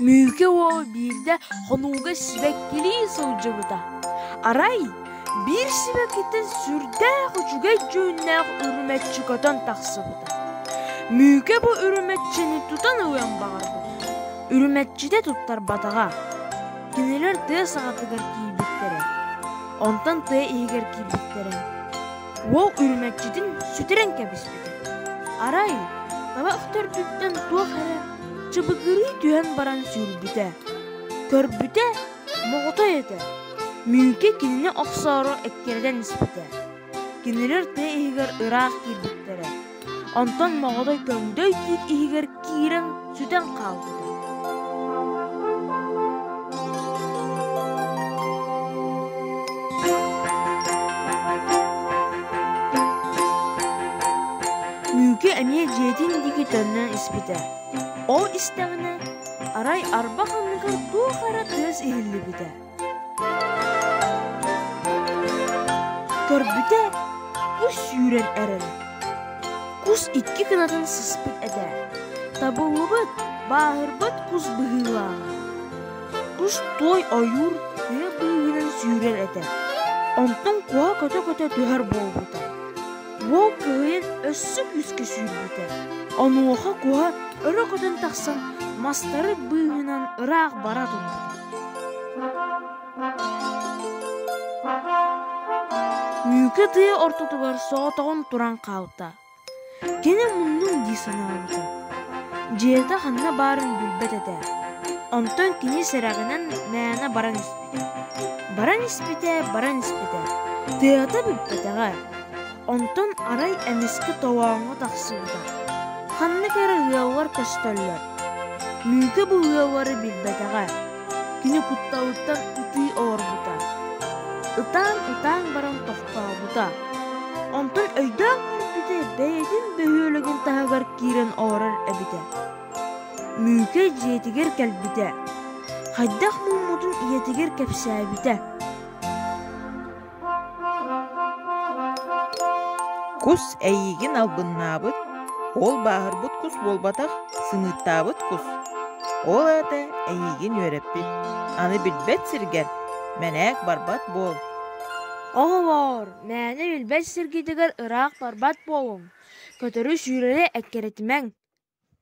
Мүүкэ уол биирдэ хонууга сибэккилии сылдьыбыта. Арай биир сибэккиттэн сүрдээх үчүгэй дьүһүннээх үрүмэччи көтөн тахсыбыта. Мүүкэ бу үрүмэччини тутан ылыан баҕарбыт. Үрүмэччитэ туттарбатаҕа. Кинилэр тыа саҕатыгар киирбиттэрэ. Онтон тыа иһигэр киирбиттэрэ. Уол үрүмэччитин сүтэрэн кэбиспитэ. Арай таба өхтөрдүттэн туох эрэ чыбыгырыы түһэн баран сүүрбүтэ. Көрбүтэ, моҕотой этэ. Мүүкэ кинини охсоору эккирэтэн испитэ. Кинилэр тыа иһигэр ыраах киирбиттэрэ. Онтон моҕотой көҥдөй тиит иһигэр киирэн сүтэн хаалбыта. Күүкэ эмиэ дьиэтин диэки төннөн испитэ. Ол истэҕинэ арай арбах анныгар туох эрэ тыас иһиллибитэ. Көрбүтэ кус сүүрэн эрэрэ. Кус икки кынатын сыспыт этэ. Табыллыбыт, бааһырбат кус быһыылааҕа. Кус той ойуур тыа быыһынан сүүрэр этэ. Онтон куһа көтө-көтө түһэр буолбута. Уол кыайан өссө күүскэ сүүрбүтэ. Онуоха куһа өрө көтөн тахсан мастары быыһынан ыраах бара турбута. Үүкэ тыа ортотугар соотоҕун туран хаалта. Кини муннун дии санаабыта. Дьиэтэ ханна баарын билбэт этэ. Онтон кини сэрэҕинэн мээнэ баран испитэ. Баран испитэ, баран испитэ. Тыата бүппэтэҕэ. Онтон арай эмискэ тоҕооҥҥо тахсыбыта. Ханнык эрэ ыаллар көстөллөр. Лүүкэ бу ыаллары билбэтэҕэ. Кини кутталыттан ытыы олорбута. Ытаан-ытаан баран тохтообута. Онтон өйдөөн көрбүтэ бэйэтин бөһүөлэгин таһыгар киирэн олорор эбитэ. Лүүкэ дьиэтигэр кэлбитэ. Хайдах муммутун ийэтигэр кэпсээбитэ. Кус эйиигин албыннаабыт, ол бааһырбыт кус буолбатах, сымыыттаабыт кус. Ол аата эйиигин үөрэппит. Аны билбэт сиргэр мэнээк барбат буол. Оҕолоор, мээнэ билбэт сиргитигэр ыраах барбат буолуҥ. Көтөрү сүүрэрэ эккирэтимэҥ.